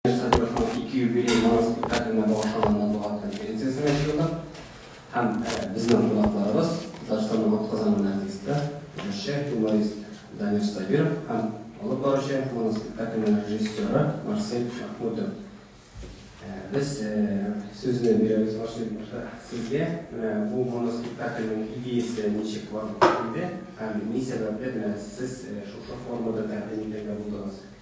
Владимир Садыйровның ике юбилей яңа спектаклена багышланганнан булган конференциясен ачыйлар һәм безнең кунакларыбыз, Татарстанның атказанган артисты, җырчы, юморист Данир Сабиров һәм алып баручы моноспектакльнең режиссеры Марсель Мәхмүтов. Без сүзне бирәбез Марсель баштан сезгә. Менә бу моноспектакльнең идеясе ничек барлыкка килде һәм ни сәбәпле менә сез шушы формада тәкъдим итәргә булдыгыз?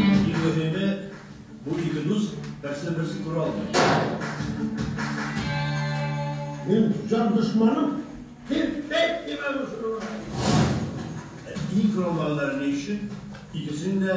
Иң мөһиме, бу ике дус берсен-берсе күрә алмый. Минем җан дошманым тирпәйт дип әвеш урыган. Ә иң кораллы алар ни өчен икесен дә.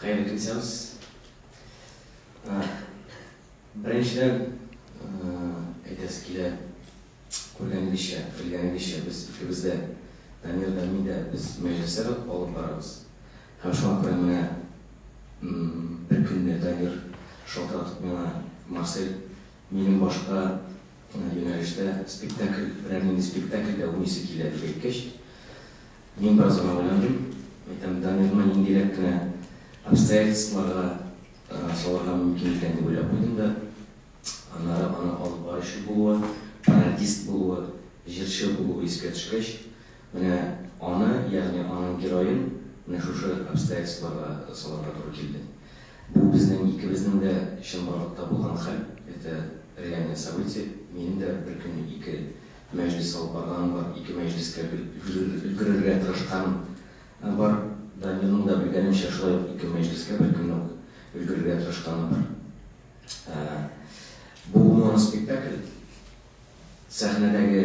Хәерле көн сәүз. Беренчедән, әйтәсе килә, күргәнегезчә, белгәнегезчә, без икебез дә, Данир да, мин дә, без мәҗлесләр алып барабыз. Һәм шуңа күрә менә бер көнне Данир шалтыратып миңа, Марсель, Минем башка юнәлештә спектакль, берәр нинди спектакль дә уйныйсы килә, дип әйткәч, мин бераз гына уйландым. Әйтәм, Дамирны ниндирәк кенә обстоятельстволарга салырга мөмкин икән дип уйлап куйдым да, аннары аның алып баручы булуы, пародист булуы, җырчы булуы искә төшкәч, Менә аны, ягъни аның героен менә шушы обстоятельствога салырга туры килде. Бу безнең икебезнең дә чынбарлыкта булган хәл, это реальное событие. Минем дә беркөнне ике мәҗлес алып барганым бар, ике мәҗлескә өлгерергә тырышканым бар. Данирның да белгәнемчә шулай ук ике мәҗлескә беркөнне үк өлгерергә тырышканы бар. Бу моноспектакль сәхнәдәге.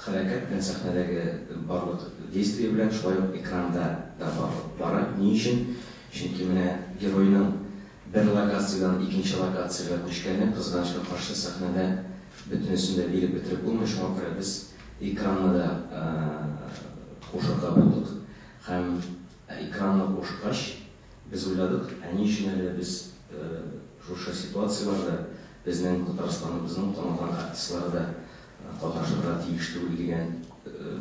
Хәрәкәт белән сәхнәдәге барлык действие белән шулай ук экранда да барлык бара. Ни өчен? Чөнки менә геройның бер локациядән икенче локациягә күчкәне, кызганычка каршы, сәхнәдә бөтенесен дә биреп бетереп булмый, шуңа күрә без экранны да кушырга булдык. Һәм экранны кушкач, без уйладык, ә ни өчен әле без шушы ситуацияләрдә безнең Татарстаныбызның танылган артистлары да катнашырга тиеш түгел дигән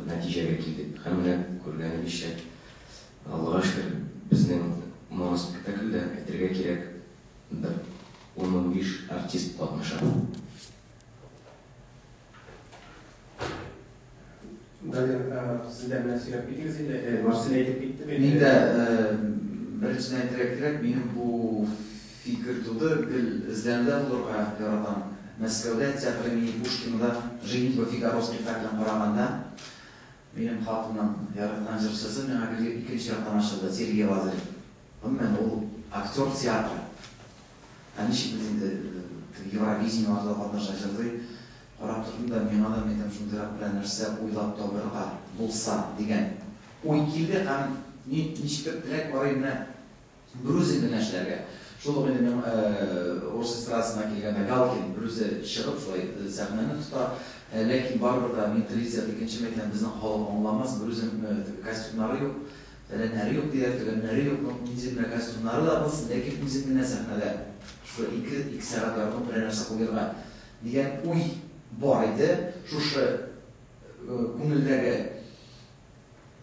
нәтиҗәгә килдек. Һәм менә күргәнегезчә, Аллага шөкер, безнең моноспектакльдә, әйтергә кирәк, бер ун-унбиш артист катнаша. Мин дә беренчедән әйтергә кирәк, минем бу фикер туды, гел эзләнүдә булырга яратам. Мәскәүдә театр имени Пушкинада Женитьба Фигаро спектаклен караганда, минем хатынның яраткан җырчысы миңа гел икенче яктан ачылды, Сергей Лазарев. Гомумән, ул актер театры. Ә ничек без инде Евровидениеларда катнаша, җырлый, Карап тордым да, миңа да Метәм шундыйрак берәр нәрсә уйлап табарга булса, дигән уй килде һәм мин ничектер теләк бары менә Брузин генә эшләргә. Шул ук инде миңа урыс эстрадасына килгәндә Галкин берүзе чыгып шулай сәхнәне тота. Ләкин барыбер дә мин телевизорда икенче мәйтәм, безнең халык аңламас, Брузин костюмнары юк, фәләннәре юк диләр, төгәннәре юк, ну нинди генә костюмнары да булсын, ләкин үзең генә сәхнәдә шулай ике сәгать яртылаш берәр нәрсә куерга Дигән уй бар иде, шушы күңелдәге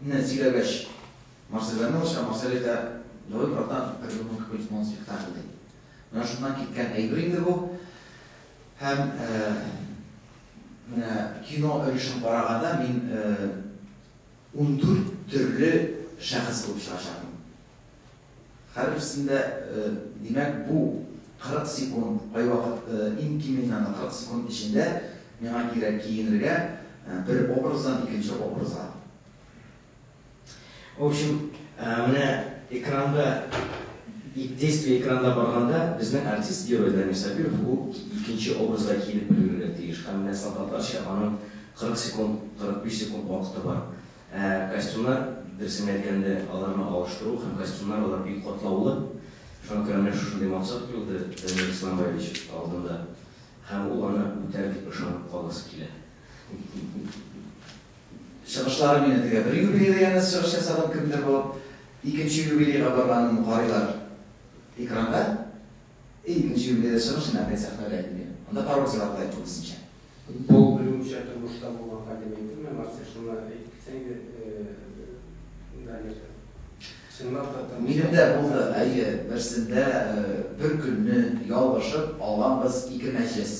не сөйләгәч, Марселләр не лучше, Марсель әйтә, давай, братан, придумаем какой-нибудь моноспектакль, ди. Менә шуннан киткән әйбер инде бу. Һәм менә кино өлешен караганда мин ундүрт төрле шәхес булып чыгачакмын. Һәрберсендә, димәк, бу 40 секунд, кайвакыт иң киминнән 40 секунд эчендә миңа кирәк киенергә бер образдан икенче образга. В общем, менә экранда, действие экранда барганда, безнең артист герой Дамир Сабиров ул икенче образда киенеп өлгерергә тиеш. Һәм менә солдатларча аның 40 секунд, 45 секунд вакыты бар. Ә костюмнар, дөресен әйткәндә, аларны алыштыру һәм костюмнар, алар бик катлаулы. Шуңа күрә менә шушындый максат куелды Данил Исламбаевич алдында һәм ул аны үтәр дип ышанып каласы килә. Чыгышларын юнәтергә. Бер юбилейда янәс чыгыш ясаган кемдер булып, икенче юбилейга барганын карыйлар экранда. Икенче юбилейда чыгыш һәм әкият сәхнәдә әйтелде. Анда пародия сыйфаты да әйтте үзенчә. Бу берүзенчә тормышта булган хәл дип әйтелмә, Марсель, шуны әйтеп китсәң иде, Данирда. Чынлап та тормышта. Минем дә булды, әйе, берсендә бер көнне ялгышып алганбыз ике мәҗлес.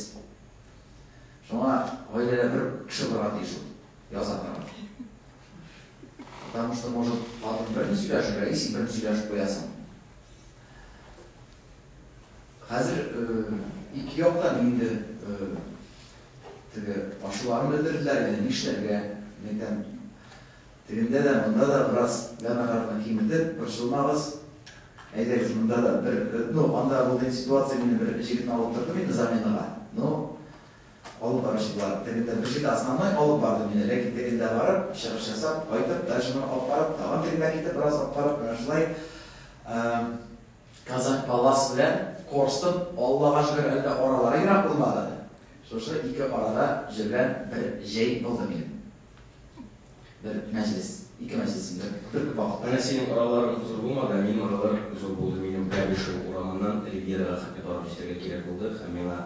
Шуңа гаиләдә бер кеше булырга тиеш ул, яза торган. Потому что может хатын берни сөйләшергә, и син берни сөйләшеп куясың. Хәзер ике як та инде теге ачуларын белдерделәр иде, нишләргә, мин әйтәм, тегендә дә, монда да бераз гана-гана киметеп, борчылмагыз, әйдәгез, монда да бер, ну, анда булган ситуация, мин бер җегетне алып тордым инде заменага, ну, Алып баручылар тегендә бер җирдә асламай алып барды мине, ләкин тегендә барып, чыгыш ясап, кайтып, дальше моны алып барып, тагын тегендә китеп, бераз алып барып, менә шулай Казань Палас белән Корстон, Аллага шөкер, әле дә аралары ерак булмады. Шушы ике арада җөргән бер җәй булды минем. Бер мәҗлес, ике мәҗлес инде. Бер вакытта Нәсинең оралары зур булмады, ә минем оралар зур булды. Минем Кәбишев урамыннан Ривьерага хәтле барып җитәргә кирәк булды һәм миңа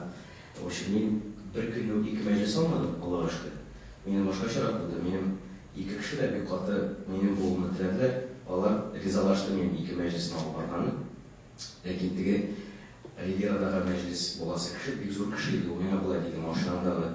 Очы, мин бер көнне үк ике мәҗлес алмадым, Аллага шөкер. Минем башкачарак булды. Минем ике кеше дә бик каты минем булуымны теләделәр. Алар ризалашты минем ике мәҗлесне алып барганым. Ләкин теге Ривьерадагы мәҗлес буласы кеше бик зур кеше иде. Ул миңа болай диде, Машинаңдагы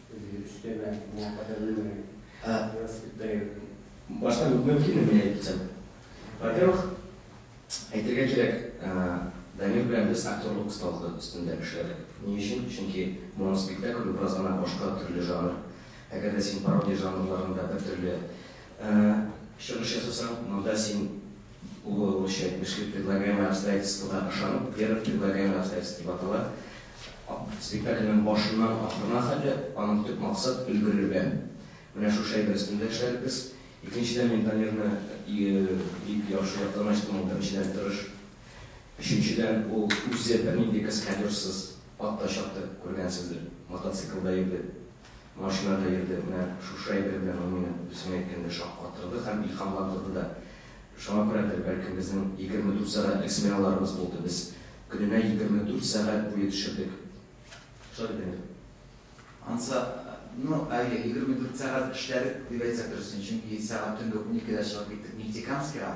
Башта мөмкинме мин әйтсәм? Во-первых, әйтергә кирәк, Данил белән без актерлык осталыгы өстендә эшләдек. Ни өчен? Чөнки моноспектакль бераз гына башка төрле жанр. Әгәр дә син пародия жанрларында бер төрле чыгыш ясасаң, монда син Бу русча әйтмешли, Предлагаемое обстоятельствога ышанып, Вера в предлагаемое обстоятельство дип атала. Спектакльнең башыннан ахырына хәтле аның төп максат, өлгерергә. Менә шушы әйбер өстендә эшләдек без. Икенчедән, мин Дамирны бик яхшы яктан ачтым, ул беренчедән тырыш. Өченчедән, ул үзе бернинди каскадерсыз ат та чапты, күргәнсездер, мотоциклда йөрде. Машинада йөрде, менә шушы әйбер белән ул мине, дөресен әйткәндә, шаккатырды һәм илһамландырды да. Шуңа күрәдер, бәлкем, безнең егерме дүрт сәгатьлек сменаларыбыз булды, без көненә егерме дүрт сәгать буе төшердек. Шулай бит, Дамир? Анса, ну, әйе, егерме дүрт сәгать эшләдек, дип әйтсәк дөресен, чөнки сәгать төнге уникедә чыгып киттек Нефтекамскига.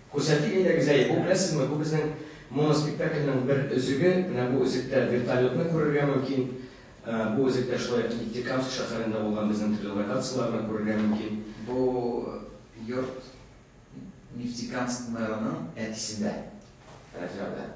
Күрсәтик әйдә, Гүзәй, бу, беләсезме, бу безнең моноспектакльнең бер өзеге, менә бу өзектә вертолетны күрергә мөмкин, бу үзектә шулай ук Нефтекамск шәһәрендә булган безнең төрле локацияләрне күрергә мөмкин. Бу йорт Нефтекамск мэрының әтисендә, Рәфига белән.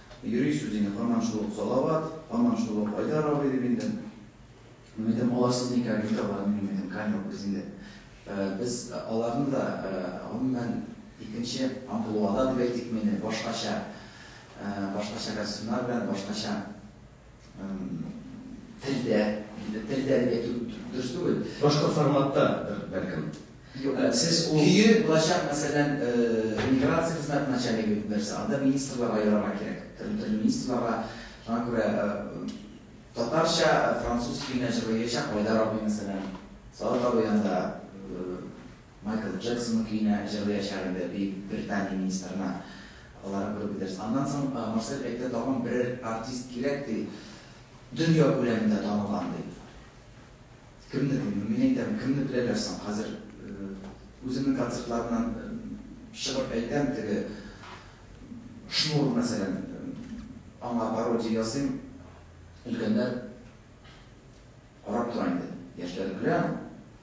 Йөри сүз инде һаман шул ук Салават, һаман шул ук Айдар абый, дип инде. Мин әйтәм, алар сез никә видео бар, мин әйтәм, камера без инде. Без аларны да, гомумән, икенче амплуада дип әйтик мени, башкача, башкача костюмнар белән, башкача. Телдә, телдә дип әйтү дөрес түгел. Башка форматта бәлкем. Сез ул көе булачак, мәсәлән, миграция хезмәт начальнигы дип нәрсә, анда министрларга ярарга кирәк. Төрле министрларга, шуңа күрә татарча, француз көенә җырлый яшәп, Айдар абый мәсәлән, Салат абый анда Майкл Джексонның көенә җырлыячак инде Бөек Британия министрына аларны күреп китәрсез. Аннан соң Марсель әйтте, тагын берәр артист кирәк, ди, дөнья күләмендә танылган, ди. Кемне дим? Мин әйтәм, кемне беләләр соң? Хәзер үземнең концертларымнан чыгып әйтәм, теге Шнур, мәсәлән, аңа пародия ясыйм, өлкәннәр карап тора инде, яшьләр көлә аңа.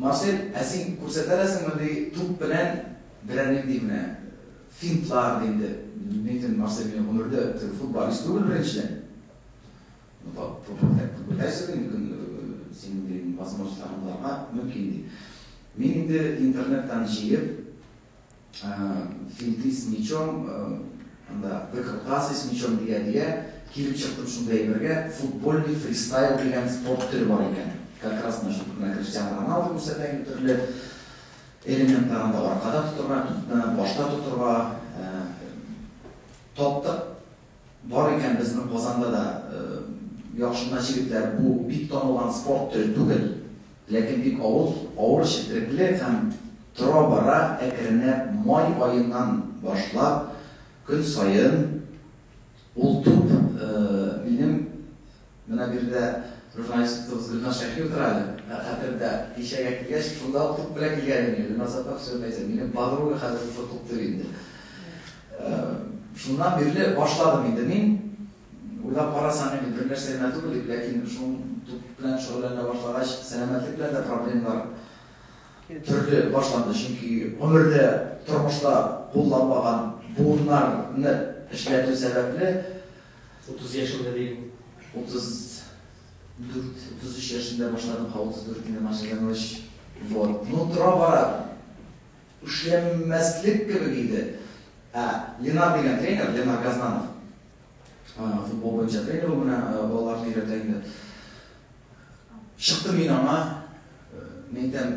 Марсель, ә син күрсәтә ләсеңме, ди, туп белән берәр нинди менә финтлар, ди инде. Ньютон, Марсель, мин гомердә теге футболист түгел, беренчедән. Ну, тап, тупо так тупо дәрсе дим, көн, синең, дим, возможностьларың буларга мөмкин, ди. Мин инде интернеттан җыеп, Финты с мечом, анда выкрутасы с мечом дигә-дигә, килеп чыктым шундый әйбергә, футбольный фристайл дигән спорт төре бар икән. Как раз менә шул менә Криштиану Роналду күрсәтә инде төрле элементлар анда аркада тотырга, тупны башта тотырга. Таптык, Бар икән безнең Казанда да яхшы гына җегетләр. Бу бик танылган спорт төре түгел, ләкин бик авыл, авыр четерекле һәм тора-бара әкренләп май аеннан башлап көн саен ул туп минем Менә биредә журналистыбыз Гөлназ Шәйхи утыра әле. Ә хәтердә, кичәгә килгәч, шунда ук туп белән килгән идем. Гөлназ апа, төшереп әйтсәң, минем подруга хәзер шушы туп дип инде. Шуннан бирле башладым инде мин. Уйлап карасаң, инде бер нәрсә генә түгел бит, ләкин шул туп белән шөгыльләнә башлагач, сәламәтлек белән дә проблемалар төрле башланды. Чөнки гомердә, тормышта кулланмаган буыннарны эшләтү сәбәпле, Утыз яшендә дим. Утыз дүрт, утыз өч яшендә башладым, һа утыз дүрт инде начыгангач. Вот. Ну, тора-бара эшләмәслек кебек иде. Ә, Ленар дигән тренер, Ленар Газнанов. Футбол буенча тренер ул менә балаларны өйрәтә инде. Чыктым мин аңа, мин әйтәм,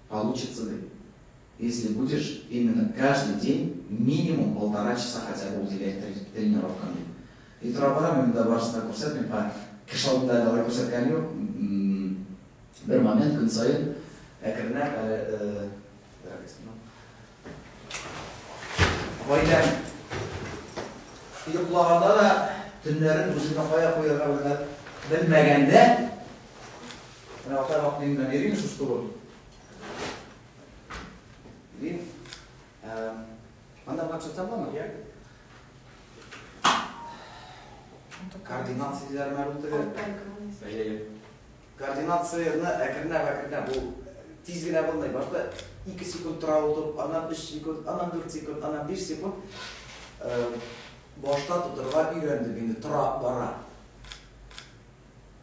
Получится ли? Если будешь именно каждый день минимум полтора часа хотя бы уделять тренировкам дип. И тора бара мин монда барысын да күрсәтмим, һа, кеше алдында алай күрсәткәнем юк. Бер момент көн саен әкренләп әле Гаиләм йоклаганда да төннәрен үзенә кая куярга белмәгәндә Менә Алтай Мактыйм белән йөрим шушы турым. Йөрим. Анда гына төшәтә буламы? Йә. Координация диләр менә бу теге. Әйе. Координацияне әкренләп әкренләп бу тиз генә булмый. Башта 2 секунд тора утып, аннан 3 секунд, аннан 4 секунд, аннан 5 секунд башта тотырга өйрәндем инде, тора бара.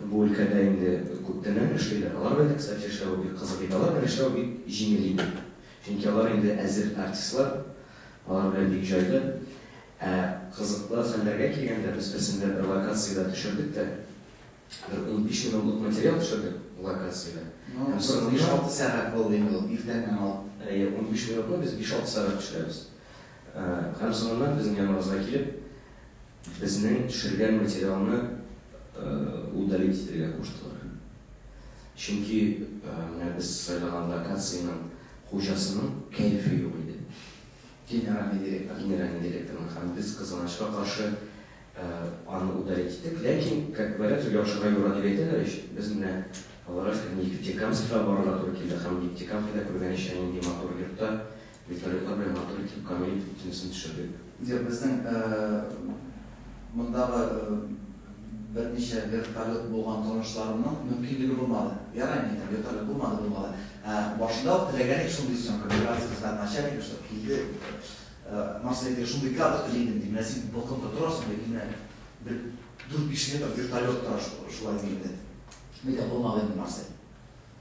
Бу өлкәдә инде күптәннән эшлиләр. Алар белән дә, кстати, эшләве бик кызык иде. Алар белән эшләү бик җиңел иде. Чөнки алар инде әзер артистлар, алар белән бик җайлы. Ә кызыклы хәлләргә килгәндә, без берсендә бер локациядә төшердек тә, бер унбиш минутлык материал төшердек локациядә. Һәм соңыннан. Биш-алты сәгать булды инде ул, иртән һәм ал. Әйе, унбиш минутны без биш-алты сәгать төшерәбез. Һәм соңыннан безнең яныбызга килеп. Безнең төшергән материалны удалить итәргә куштылар. Чөнки менә без сайлаган локациянең хуҗасының кәефе юк иде. Генеральный директор. Генеральный директорның һәм без кызганычка каршы аны удалить иттек. Ләкин, как говорят, яхшыга юра дип әйтәләр ич, без менә аларга Нефтекамскига барырга туры килде һәм Нефтекамскида күргәнечә нинди матур йортта Вертолетлар белән матур итеп Камил төнәсен төшердек. Юк, безнең мондагы берничә вертолет булган танышларымның мөмкинлеге булмады. Ярый инде, әйтәм, вертолет булмады булмаган. Ә башында ук теләгән идек шундый съемка, операция хезмәт начальнигы, чтобы килде. Марсель әйтте, шундый кадр тели идем, ди. Менә син балконда торасың, ди, менә бер дүрт-биш метр вертолет тора шулай, ди инде. Мин әйтәм, булмады инде, Марсель.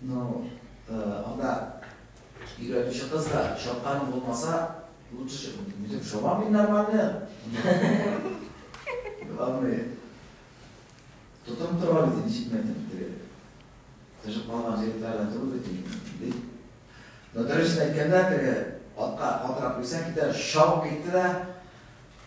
Ну, анда өйрәтүче кыз да чапканым булмаса, лучше үзем шабам мин нормально. Главное, тотым тора бит, ничек мен тотып Тыжып калган җегетләрдән тору бит инде. Но дөресен әйткәндә, теге атка катырак куйсаң, китә шау китте дә,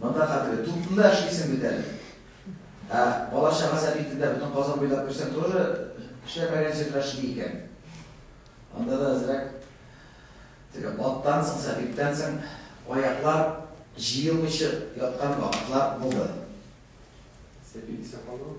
Монда хәтле тупны эшлисең бит әле. Ә бала чага сәбитендә бөтен Казан буйлап йөрсәң туры эшләмәгән җирләр шундый икән. Анда да әзрәк теге аттан соң, сәбиттән соң аяклар җыелмыйча яткан вакытлар булды. Сәбит исә калды.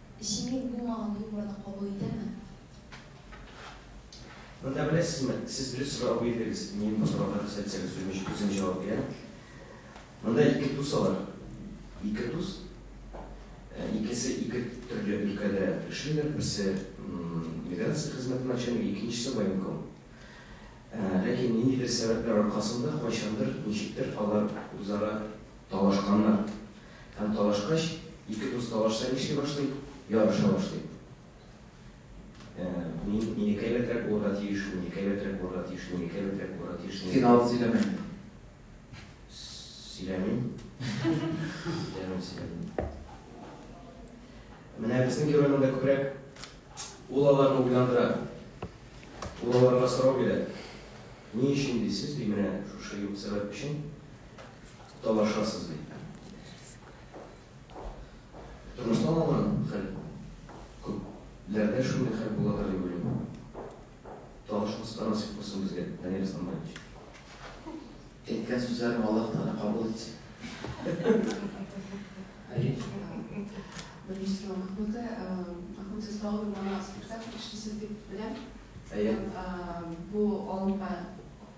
Җиңел булмаган юморны кабул итәме? Монда беләсезме, сез дөрес сорау бирдегез, мин бу сорауга дөрес әйтсәгез үзем үзем җавап бирәм. Монда ике дус алар. Ике дус. Икесе ике төрле өлкәдә эшлиләр. Берсе миграция хезмәте начальнигы, икенчесе военком. Ләкин ниндидер сәбәпләр аркасында кайчандыр, ничектер алар үзара талашканнар. Һәм талашкач, ике дус талашса нишли башлый? Ярыша башлый. Ә, мин, минеке әйбәтрәк булырга тиеш, минеке әйбәтрәк булырга тиеш, минеке әйбәтрәк булырга тиеш, минеке. Син авыз сөйләмә инде. Сөйләмим. Сөйләмим, сөйләмим. Менә безнең герой монда күбрәк ул аларны уйландыра. Ул аларга сорау бирә. Ни өчен дисез, ди, менә шушы юк сәбәп өчен. Талашасыз бит. Тормыштан алган хәл күпләрдә шундый хәл буладыр дип уйлыйм. Талашмаска насыйп булсын безгә, Данил Исламбаевич. Әйткән сүзләрен Аллаһ Тәгалә кабул итсен. Беренче сорау Махмуты, Махмут Исламов моноспектакль эшлисез дип беләм. Әйе. Бу алымга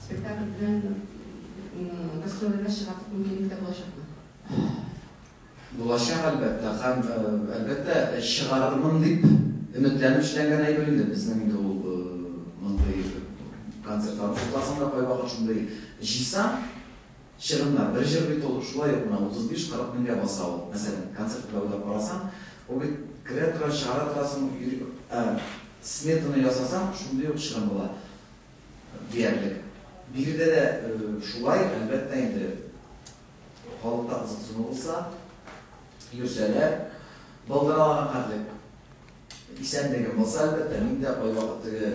Спектакль белән гастрольләргә чыгарлык мөмкинлек тә булачакмы? Булачак, әлбәттә. Һәм, әлбәттә, чыгарырмын дип өметләнеп эшләнгән әйбер инде безнең инде ул мондый концертлар. Тотасың да кайвакыт шундый җыйсаң, чыгымнар. Бер җыр бит ул шулай ук менә 35-40 меңгә баса ул. Мәсәлән, концерт белән уйлап карасаң, ул бит керә тора, чыгара торасың, сметаны ясасаң, шундый ук чыгым була. Диярлек. Биредә дә шулай, әлбәттә инде, халыкта кызыксыну булса, йөрсәләр, былтыралаган хәтлек исәнлегем булса, әлбәттә, мин дә кайвакыт теге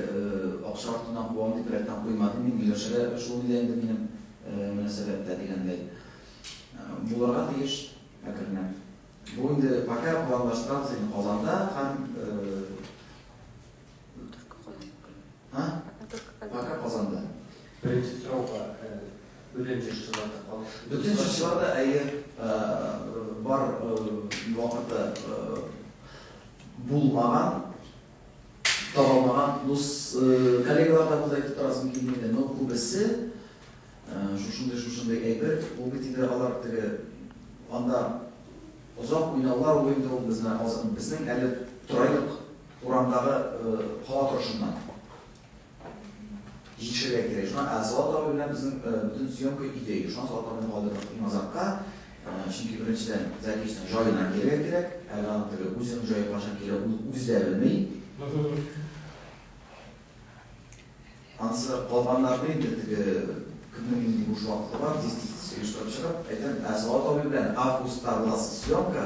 акча артыннан куам дип рәттән куймадым, мин Миләүшәгә шул иде инде минем мөнәсәбәттә дигәндәй. Булырга тиеш әкренләп. Бу инде пока планлаштырабыз инде Казанда һәм А? Пока Казанда. Беренче сорауга бөтен җырчылар да калыш. Бөтен җырчылар да әйе бар вакыты булмаган табылмаган дус коллегалар да булды әйтеп торасым килми иде но күбесе шушындый шушындый әйбер ул бит инде алар теге анда озак уйнаулар уенда ул безнең безнең әле торайлык Урамдагы кала торышыннан җитешергә кирәк. Шуннан Азат абый белән безнең бөтен съемка өйдә иде. Шуннан Азат абыйны калдырдык иң азакка. Чөнки беренчедән, Зәкичнең җаена килергә кирәк. Әле аның теге үзенең җае кайчан килә, ул үзе дә белми. Анысы калганнарны инде теге кемнең нинди буш вакыты бар, тиз-тиз-тиз оештырып чыгып, әйтәм, Азат абый белән августта буласы съемка,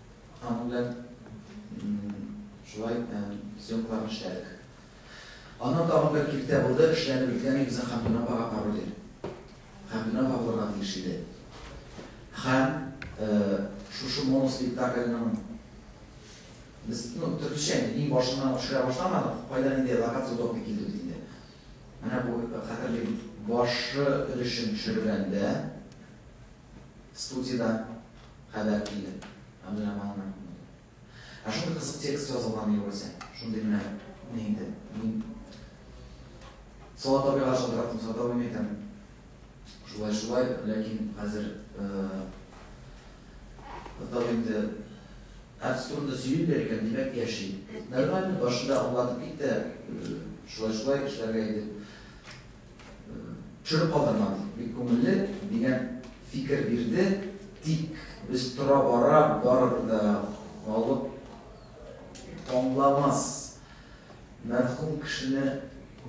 Аның белән шулай съемкаларны эшләдек. Аннан тагын бер киртә булды, эшләнеп беткән безнең Хәмдүнә апага пародия. Хәмдүнә апа булырга тиеш иде. Һәм шушы моноспектакльның без ну, төркешә иң башыннан төшерә башламадык, кайда инде локация удобный килде бит инде. Менә бу хәтерлим, башы өлешен төшергәндә Студиядә хәбәр килде. Ә менә аны Ә шундый кызык текст язылган югыйсә. Шундый менә ни инде. Мин Салат абыйга шалтыраттым, Салат абый мин әйтәм, шулай шулай, ләкин хәзер тагы инде Әкс турында сөйлиләр икән, димәк яши. Нормально, башында аңлатып китте, шулай шулай эшләргә иде. Төшереп калдырма ди. Бик күңелле, дигән фикер бирде. Тик без тора-бара барыбер дә халык аңламас, мәрхүм кешене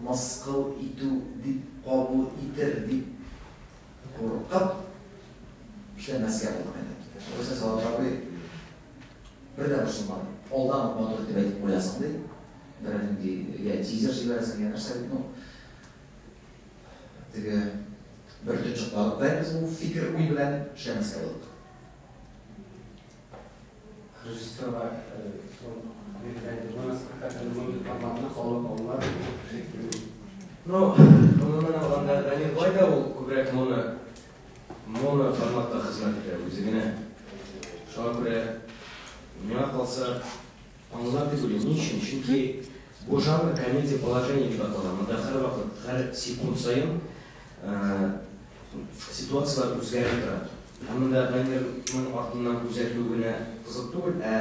мыскыл итү дип кабул итер дип куркып, эшләмәскә булдык инде. Югыйсә Салават абый бер дә борчылмады. Алдан ук матур итеп әйтеп куясың, ди. Бернинди, йә тизер җибәрәсең, йә нәрсә, ну, Теге бер тотчыклалык белән без бу фикер уй белән эшләмәскә булдык. Режиссерга биргән спектакльне мондый форматны халык аңлар шикелле. Ну, гомумән алганда, Данил Бай да ул күбрәк моны моны форматта хезмәт итә үзе генә. Шуңа күрә миңа калса Аңлатып бирим, ни өчен, чөнки бу жанр комедия положения дип атала, монда һәрвакыт, һәр секунд саен ситуацияләр үзгәреп тора. Ә монда номерның артыннан күзәтү генә кызык түгел, ә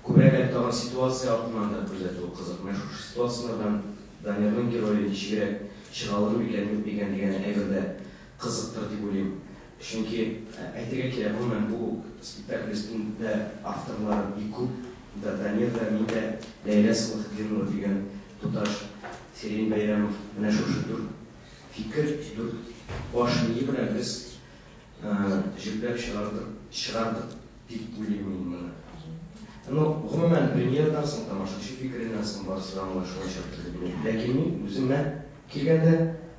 күбрәк әле тагын ситуация артыннан да күзәтү кызык. Менә шушы ситуацияләрдән Дамирның герое ничегрәк чыга алыр микән, юк микән дигән әйбер дә Кызыктыр дип уйлыйм. Чөнки, әйтергә кирәк, гомумән, бу спектакль өстендә авторлар бик күп. Да, Данир да, мин дә, Ләйлә Сәлахетдинова дигән туташ, Сирень Бәйрәмов, менә шушы дүрт фикер, дүрт баш мие белән без җөпләп чыгардык, чыгардык дип уйлыйм мин моны. Ну, гомумән, премьерадан соң, тамашачы фикереннән соң барысы да аңлашылачак, дип уйлыйм. Ләкин мин үземә килгәндә,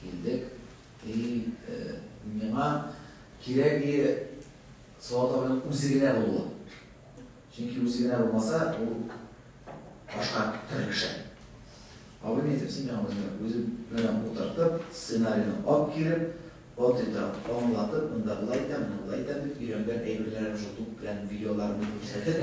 Килдек. И, э, миңа кирәге Салават абыйның үзе генә булуы. Чөнки үзе генә булмаса, ул башка төрле кеше. Абый не әйтеп, син миңа үзеңә үзе белән утыртып, сценарийны алып килеп, вот это аңлатып, монда былай итәм, монда былай итәм дип өйрәнгән әйберләрем шул туп белән видеоларымны күрсәтеп,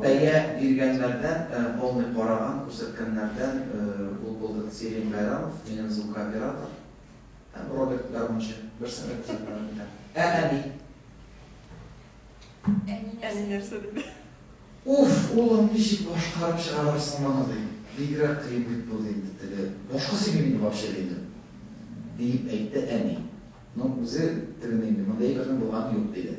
Бәя биргәннәрдән, полный караган, күрсәткәннәрдән ул булды Сирень Байрамов, минем звукооператор, һәм Роберт, гармунчы. Берсен дә күрсәтмәдем икән. Ә әни? Әни нәрсә диде? Уф, улым, ничек башкарып чыгарырсың моны, ди. Бигрәк кыен бит бу, ди инде теге. Башка сөйлим инде вообще, диде. Диеп әйтте әни. Ну, үзе тегене инде, мондый әйбернең булганы юк, диде.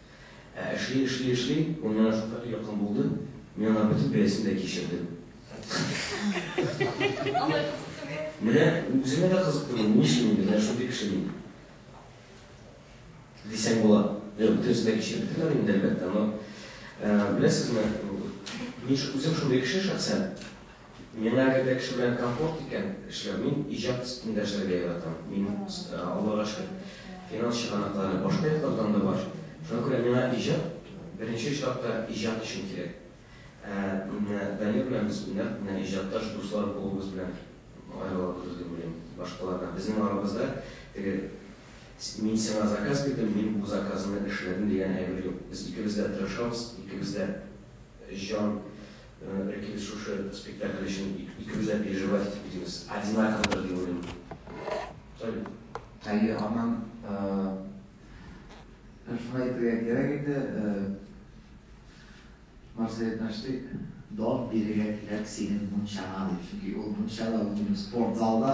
Ә эшли, эшли, эшли, моннан артык якын булды, мин аңа бөтен бәясен дә кичердем. Алай кызыктымы? Менә үземә дә кызыкты бу, ни өчен инде менә шундый кеше мин? Дисәң була. Юк, бөтенесен дә кичереп бетермәдем инде, әлбәттә, но, беләсезме, мин үзем шундый кеше шәхсән. Миңа әгәр дә кеше белән комфорт икән эшләү, мин иҗат өстендә эшләргә яратам. Мин, Аллага шөкер, финанс чыганаклары башка яклардан да бар. Шуңа күрә миңа иҗат, беренче очракта, иҗат өчен кирәк. Ә менә Данил белән без нәкъ менә иҗатташ дуслар булуыбыз белән аерылабыз дип уйлыйм башкалардан. Безнең арабызда теге мин сиңа заказ бирдем, мин бу заказны эшләдем дигән әйбер юк. Без икебез дә тырышабыз, икебез дә җан Ләкин без шушы спектакль өчен икебез дә переживать итеп йөрибез. Одинаковыдыр дип уйлыйм. Салют. Әйе, аннан шуны әйтергә кирәк инде, Марсель Нәштик, Дон бирергә кирәк синең мунчаңа, дип. Чөнки ул мунчада, ул спортзалда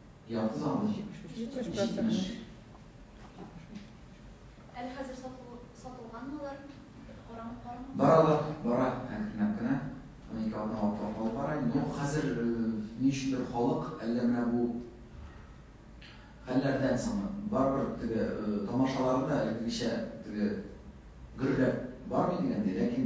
Ярты залны җитмеш процент. Әле хәзер сатылганмы алар? Карамык бармы? Баралар, бара. Әле тыйнак кына. Унике атна вакытлар калып бара. Ну, хәзер ни өчендер халык әллә менә бу хәлләрдән соң барыбер теге тамашалары да элеккечә теге гөрләп бармый дигәндәй, ләкин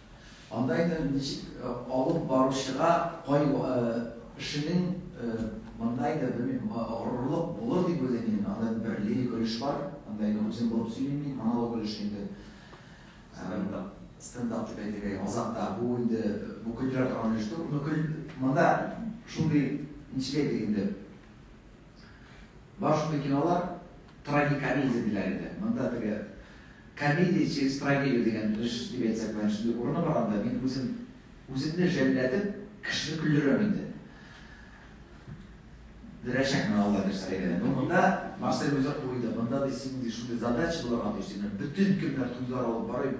Анда инде ничек алып баручыга кай эшенең монда инде белмим, горурлык булыр дип уйлыйм мин. Анда бер лирик өлеш бар. Анда инде үзем булып сөйлим мин, монолог өлеше инде. Стендап. Стендап дип әйтергә инде азакта. Бу инде бу көлдерә торган өлеш түгел. Монда шундый ничек әйтик инде. Башка кинолар трагикомедия диләр иде. Монда теге комедия через трагедию дигән режиссер дип әйтсәк, менә шундый урыны бар анда. Мин үзем үземне жәлләтеп, кешене көлдерәм инде. Дөрәчәкмен Алла бирсә әйбәт. Ну монда Марсель үзе куйды. Монда да синең шундый задача булырга тиеш. Бөтен кемнәр туйлар алып барып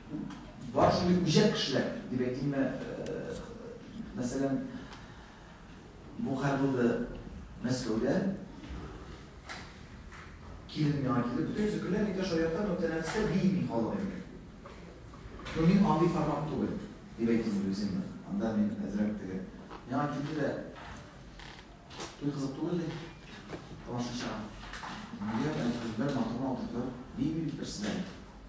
Бар шундый үҗәт кешеләр, дип әйтимме, мәсәлән, бу хәл булды Мәскәүдә. Килен миңа килеп, бөтен зөкерләр никә шаярта, но тәнәфестә бии халык инде. Ну, мин андый формат түгел, дип әйтимме үземне. Анда мин әзрәк теге. Миңа килде дә, туй кызык түгел ди, тамашачыга. Нигә, бәлки, бер матур матурлар, бии биреп берсенә.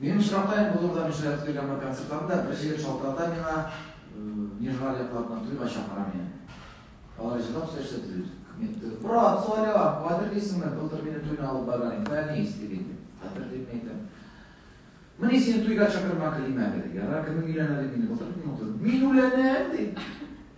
Минем очракта бу турыда мин шаяртып йөргән бер концертларымда бер җегет шалтырата миңа, Нижгар якларына туйга чакыра мине. Алар җырлап сөйләшә диде. Брат, Соля, хәтерлисеңме, былтыр мине туйна алып барган иде, Фәнис дип инде. Хәтерлим әйтәм. Менә сине туйга чакырма Климәгә. Ярар, кемнең өйләнә дип мине былтыр мине утырды. Мин үләнәм ди.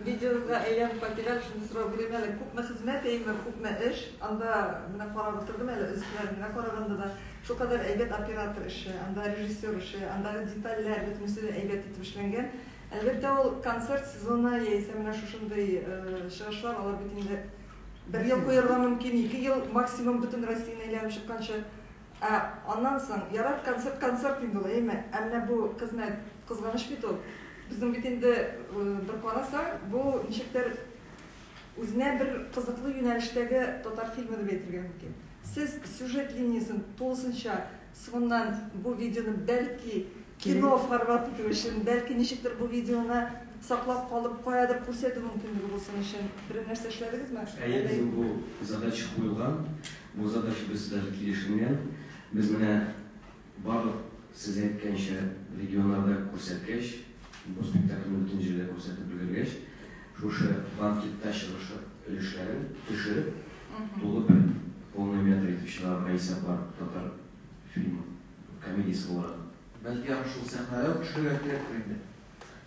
Видеогызга әйләнеп кайтыйгак, шуны сорап йөрим әле, күпме хезмәт әйеме, күпме эш, анда менә карап утырдым әле, өзекләрен генә караганда да, шулкадәр әйбәт оператор эше, анда режиссер эше, андагы детальләр, бөтенесе дә әйбәт итеп эшләнгән. Әлбәттә, ул концерт сезоны яисә менә шушындый чыгышлар, алар бит инде бер ел куярга мөмкин, ике ел максимум, бөтен Россияне әйләнеп чыкканчы. Ә аннан соң, ярат, концерт концерт инде ул, әйме? Ә менә бу хезмәт, кызганыч бит ул. Безнең бит инде, бер карасаң, бу ничектер үзенә бер кызыклы юнәлештәге татар фильмы дип әйтергә мөмкин. Сез сюжет линиясен тулысынча соңыннан бу видеоны бәлки кино формат итү өчен, бәлки ничектер бу видеоны саклап калып, каядыр күрсәтү мөмкинлеге булсын өчен берәр нәрсә эшләдегезме? Әйе, безнең бу задача куелган. Музыкачыбыз да килешенгән. Без менә барлык сез әйткәнчә регионнарда күрсәткәч, бу спектакльне бөтен җирдә күрсәтеп өлгергәч, шушы банкетта чыгышлык өлешләрен төшереп, тулы бер полный метр итеп чыгарырга исәп бар татар фильмы, комедиясе буларак. Бәлки аны шул сәхнәдә үк төшерергә кирәктер инде?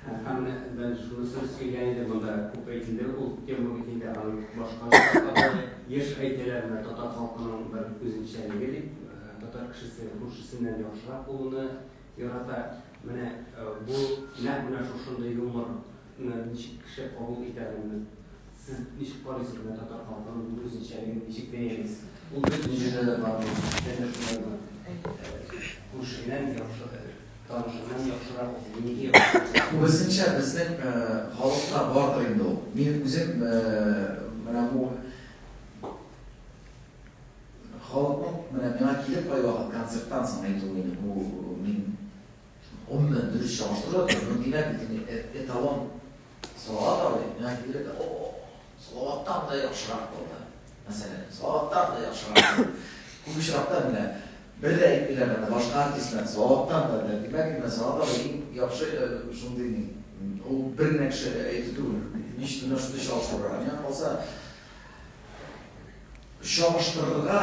Һәм мен шунысын сөйлә иде монда күпе инде ул тема бит инде аның башка шушы еш әйтелә менә татар халкының бер үзенчәлеге дип татар кешесе күршесеннән яхшырак булуны ярата менә бу нәкъ менә шушындый юмор ничек кеше кабул итә аны сез ничек карыйсыз менә татар халкының бу үзенчәлеген ничек бәялисез ул бөтен җирдә дә бар ул күршеннән яхшы Танышырга яхшырак үзен нигә яратасыз? Күбесенчә безнең халыкта бардыр инде ул. Мин үзем менә бу халыкның менә миңа килеп кайвакыт концерттан соң әйтүе иде бу мин гомумән дөрес чагыштыру да түгел, димәк, эталон сала да ул, миңа килеп әйтә, о-о-о, Салаваттан да яхшырак булды. Мәсәлән, Салаваттан да яхшырак булды. Күп очракта менә бер дә әйтмиләр аны башка артистлар. Салаваттан да да димәк, менә Салават иң яхшы э, шундый ни. Ул бер генә кеше әйтү түгел. Ничек менә шундый чагыштыру. Миңа калса, чагыштырырга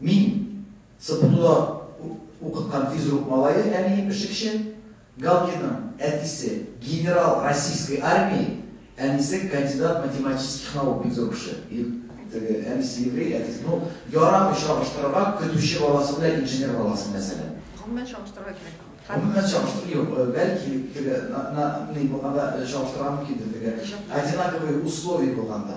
Мин, СПТУда укыткан физрук малае, әнием пешекче, Галкиның әтисе, генерал Российской армии, әнисе, кандидат математических наук, бик зур кеше. Теге әнисе еврей, әтисе, ну, ярамый чагыштырырга, көтүче баласы белән инженер баласы, мәсәлән. Гомумән чагыштырырга кирәк. Гомумән чагыштыру юк. Э, бәлки, теге, на, на, ни булганда э, чагыштырырга мөмкиндер, теге, одинаковые условия булганда.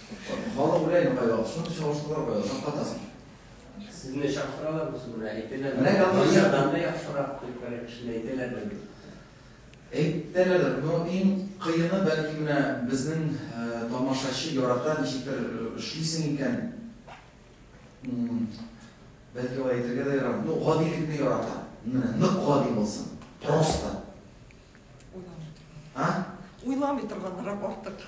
Халык белән кайда алсаң, чалышкалар кайда алсаң катасың. Сезне чакыралар бу сүзне әйтелә. Менә Галияндан да яхшырак көлкәле кешене әйтәләр бит. Әйтәләр, но иң кыены бәлки менә безнең тамашачы ярата ничектер эшлисең икән. Бәлки алай әйтергә дә ярамый. Ну, гадилекне ярата. Менә нык гади булсын. Просто. Уйламый. А? Уйламый торганнарак артык.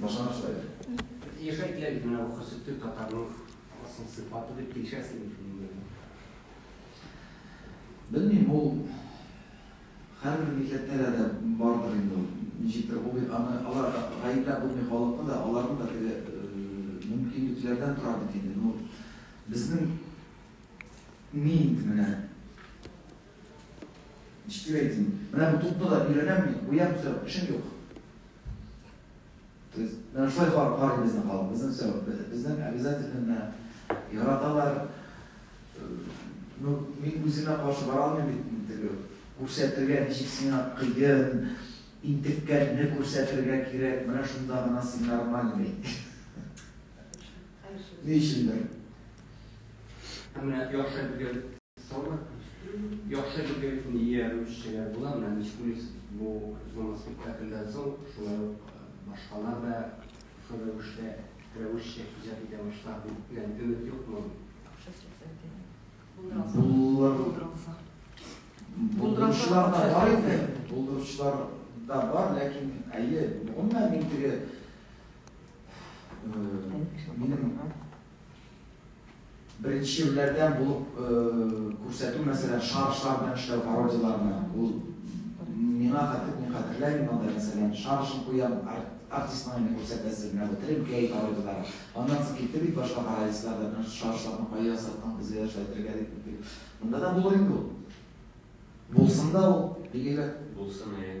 Башкарып сөйлә. Яшә килә бит менә бу хөрсет төр татарның асыл сыйфаты дип килешәсең бит минем белән. Белмим, ул һәрбер милләттә дә дә бардыр инде ул. Ничектер булыйк, аны алар да гаепләп булмый халыкны да, аларның да теге мөмкинлекләрдән тора бит инде. Ну, безнең мин менә. Ничек әйтим? Менә бу тупны да өйрәнәм мин, куям, все, эшем юк. То есть, менә шулай карый безнең халык, безнең все, безнең обязательно яраталар. Ну, мин үземә каршы бара алмыйм бит, теге күрсәтергә ничек сиңа кыен, интеккәнне күрсәтергә кирәк, менә шунда гына син нормальный. Ни өчендер? Ә менә яхшы әйтелгән Сала яхшы белгән ия русчеләр була, менә Мискулис бу зона спектакльдән соң шулай ук башкалар да шул рәвештә рәвешчә иҗат итә башлар дип белән өмет юкмы? Булдыралар. Булдыручылар да бар инде, булдыручылар да бар, ләкин әйе, гомумән мин теге минем Беренчеләрдән булып күрсәтү мәсәлән шарышлар белән эшләү пародияләрне ул миңа хәтер мин хәтерләмим анда мәсәлән шарышын куям артист маңына күрсәтәсе менә бу треп гей пародияләр аннан соң китте бит башка пародистлар да менә шарышларны кая ясаттың безгә дә шулай итергә дип монда да булыр инде ул булсын да ул бигеле булсын әйе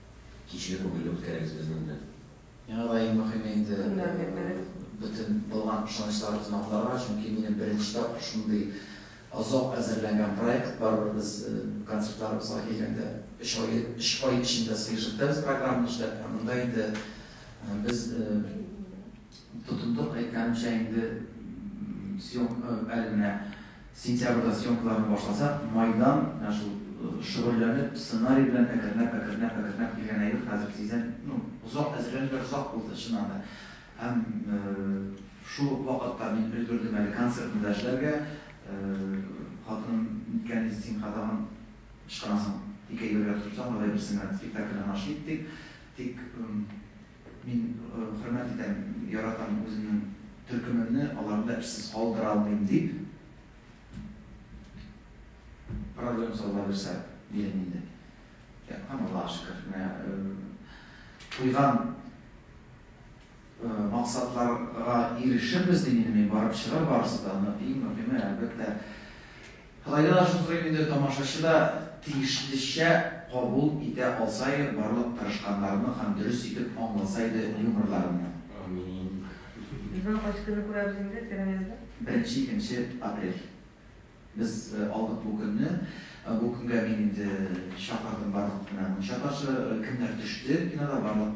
Кичле күңелле үткәрегез безнең белән. Миңа да иң мөхиме инде бөтен булган ышанычларыбызны акларга, чөнки минем беренче тапкыр шундый озак әзерләнгән проект, барыбер без концертларыбызга килгәндә өч ай, өч ай эчендә сыешып та без программаны эшләп, ә монда инде без тотындык, әйткәнемчә инде съемка әле менә Сентябрьдә съемкаларны башласак, майдан менә шул шөгыльләнеп, сценарий белән әкренләп, әкренләп, әкренләп килгән әйбер хәзер тиздән, ну, озак әзерләнүләр озак булды, чыннан да. Һәм шул ук вакытта мин өлгердем әле концертны да эшләргә. Хатыным, Ниткә инде син кадагын ычкынасың, ике әйбергә тотынсаң, алай берсен генә спектакльдә һәм ачып киттек. Тик Мин хөрмәт итәм, яратам үземнең төркемемне, аларны да эшсез калдыра алмыйм, дип проблем сала бирсә, диләм инде. Яткан, Аллага шөкер. Менә куйган максатларга ирешербез, дим инде мин, барып чыгыр барысы да. Иң мөһиме, әлбәттә, Кытайда да шул сорыйм инде, тамашачы да тиешлечә кабул итә алса иде, барлык тырышканнарны һәм дөрес итеп аңласа иде юморларымны. Амиин. Безнең кайсы көнне күрәбез инде Тегенезне? Беренче, икенче апрель. Без алдык бу көнне. Бу көнгә мин инде чакырдым барлык менә мунча ташы, кемнәр төште кинода барлык.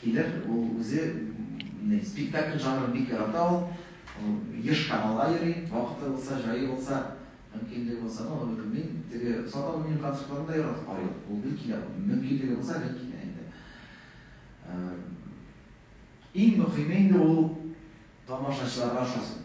Килер, ул үзе спектакль жанрын бик ярата ул. Ул еш Камалга йөри, вакыты булса, җае булса, мөмкинлеге булса, ну, аны белмим. Теге Солтан Руминиянең концертларын да яратып карый ул. Ул гел килә, мөмкинлеге булса, гел килә инде. Иң мөхиме инде ул тамашачыларга ошасын.